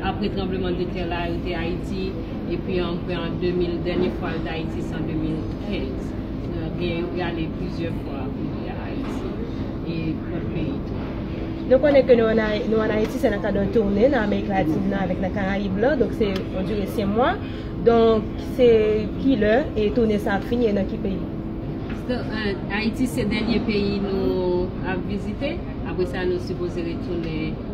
Apre tranbleman de tè la yo te Ayiti epi an prè an 2000 dènye fwa yo t Ayiti se an 2015 gen yo te ale plizyè fwa kounye a Ayiti e lòt peyi tou. Nou konnen ke nou an Ayiti se nan kad yon toune nan Amerik Latin nan avèk nan Karayib lan donk se yon dire 5 mwa donk se ki lè toune sa ap fini e nan ki peyi? Ayiti se dènye peyi nou ap vizite apre sa nou sipoze retounen.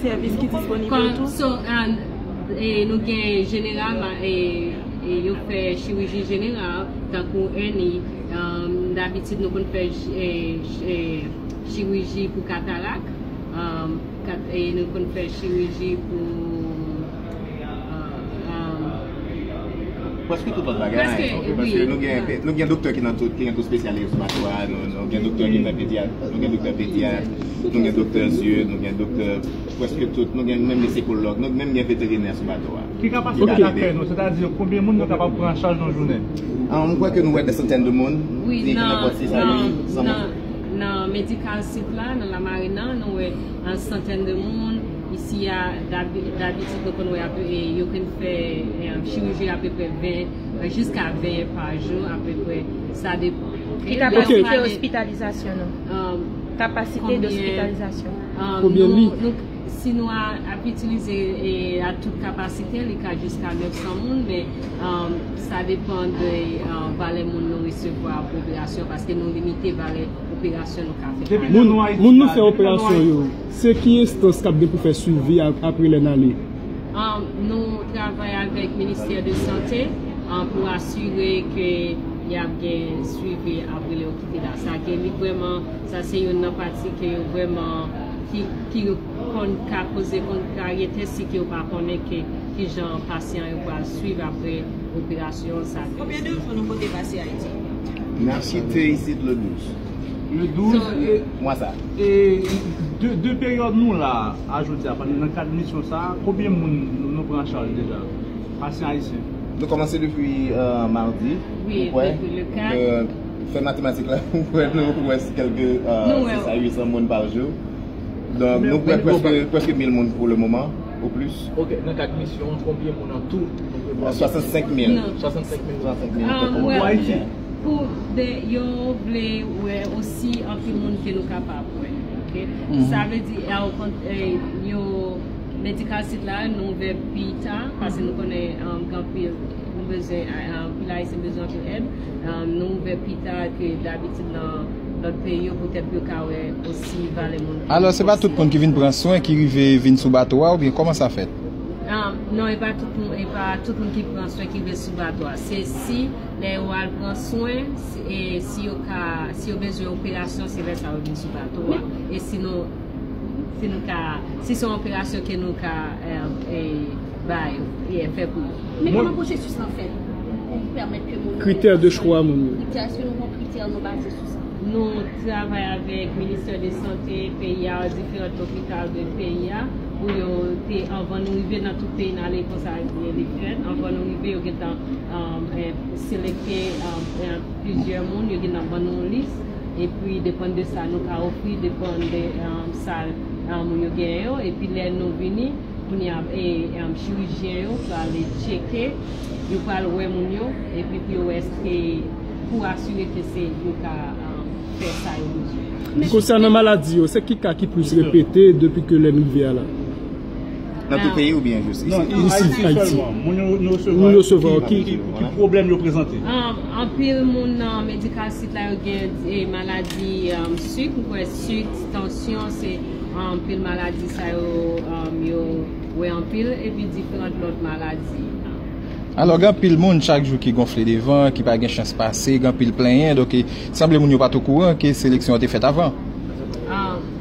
Sèvis ki disponib yo tou. So nou gen jeneralman yo k fè chiriji jeneral tankou èni dabitid nou konn fè chiriji pou katarak nou konn fè chiriji pou. Preske tout lòt bagay. Preske, wi. Ok, paske nou gen, nou gen doktè ki nan tout, ki gen tout spesyalite sou bato a, nou gen doktè ki fè pedyat, nou gen doktè pedyat, nou gen doktè zye, nou gen doktè, preske tout, nou gen menm misikòlòg, nou menm gen veterinè sou bato a. Ki kapasite ki ap fè nou, sètadi konbyen moun nou kapab pran an chaj nan jounen? Mwen kwè ke nou wè dè santèn de moun. Wi, nan, nan, nan medikal sit la, nan Lamarinn nan, nou wè an santèn de moun. Isi a, dabitid nou konn wè yo konn fè chiriji apeprè 20 jiska 20 pa jou apeprè, sa depan. Ki kapasite ospitalizasyon nou? Kapasite dospitalizasyon. Konbyen lit? Si nou ap itilize a tout kapasite, li ka jiska 900 moun, men sa depan de valè moun nou resevwa pou operasyon, paske nou limite valè operasyon nou ka fè. Moun nou fè operasyon yo. Se ki enstans kap gen pou fè swivi a apre lè n ale? Nou travay avèk ministè de sante pou asire ke y ap gen swivi apre lè yo kite la. Sa ke li vrèman, sa se youn nan pati ke yo vrèman, ki konn ka koze kontraryete si ke yo pa konnen ke ki jan pasyan yo pral swiv apre operasyon sa ke yo swivi. Konbyen de jou nou pote pase Ayiti? Mèsi Teysit Lenus. Le 12 mwa sa. E de peryòd nou la a jodi a, pandan nan kad misyon sa a, konbyen moun nou pran an chaj deja? Pasyan ayisyen. Nou kòmanse depi mardi, m kwè. Fè matematik la, m kwè nou wè kèlke 6 a 800 moun pa jou. Donk nou pran prèske 1000 moun pou le moman, ou plis. Ok, nan kad misyon an, konbyen moun an tou nou prevwa? 65 mil. 65 mil. Pou Ayiti. Pou de yo vle wè osi anpil moun ke nou kapab wè ok sa vle di a okontrè yo medikal sit la nou ouvè pi ta pase nou konnen gen anpil nou bezwen anpil ayisyen bezwen anpil èd nou ouvè pi ta ke dabitid nan lòt peyi yo poutèt pou yo ka wè osi valè moun alò se pa tout moun ki vin pran swen ki rive vin sou bato a oubyen kòman sa fèt non e pa tout moun ki pran swen ki rive sou bato a se si Lè yo al pran swen, si yo ka, si yo bezwen operasyon se lè sa yo vin sou bato a. E si nou fin ka, si se yon operasyon ke nou ka ba yo, fè pou yo. Men kòman pwosesis lan fèt pou pèmèt ke moun yo. Kritè de chwa moun yo. Kritè, èske nou gon kritè nou baze sou sa? Nou travay avèk ministè de sante peyi a, diferant lopital de peyi a, pou yo te, anvan nou rive nan tout peyi n ale konsa li fèt, anvan nou rive yo gentan. Selekte plizyè moun, yo gen ap ban nou yon lis, epi depann de sa nou ka ofri, depann de sa moun yo genyen yo, epi lè nou vini, kounye a chirijyen yo prale tcheke, yo pral wè moun yo, epi pou yo wè èske, pou asire ke se yo ka fè sa yo bezwen. Konsènan maladi yo, se ki ka ki plis repete depi ke lè m rive a la? Nan tout peyi oubyen jis isi? Non, Ayiti sèlman. Moun yo nou resevwa yo ki pwoblèm yo prezante? Anpil moun nan medical sit la yo gen maladi sik, m kwè sik, tansyon se anpil maladi sa yo yo wè anpil epi diferant lòt maladi. Alò gen anpil moun chak jou ki gonfle devan, ki pa gen chans pase, gen anpil plenyen, donk sanble moun yo pat okouran ke seleksyon an te fèt avan.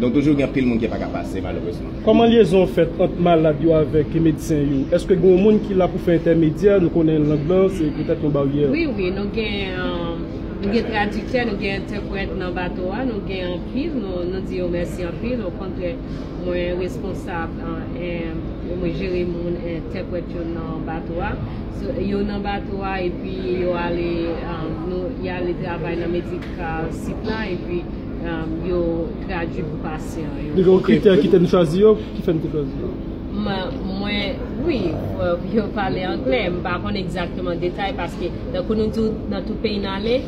Donk toujou gen anpil moun ki paka pase malerezman. Kòman lyezon fèt ant malad yo avèk medsen yo? Èske gen yon moun ki la pou fè entèmedyè? Nou konnen lang lan se petèt yon baryè. Wi, wi, nou gen nou gen tradiktè, nou gen entèprèt nan bato a, nou gen anpil, nou di yo mèsi anpil, okontrè mwen responsab mwen jere moun entèprèt yo nan bato a. Yo nan bato a epi yo ale y ale travay nan medikal sit la epi. Yo tradui pou pasyan yo. Li gen yon kritè ki te n chwazi yo, ki fè n te chwazi yo? Mwen, wi, yo pale angle. M pa konn egzakteman detay paske tankou nou di w nan tout peyi n ale,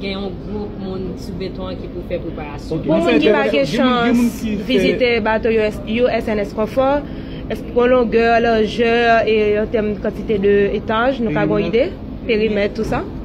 gen yon gwoup moun sou beton an ki pou fè preparasyon. Pou moun ki pa gen chans vizite bato yo USNS Comfort, èske gen longè, lajè e an tèm kantite de etaj nou ka gen yon ide? Perimèt tou sa?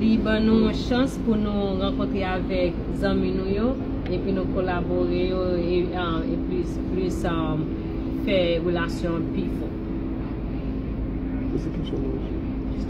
Li ban nou yon chans pou nou rankontre avèk zanmi nou yo epi nou kolabore yo e plis plis fè relasyon an pi fò.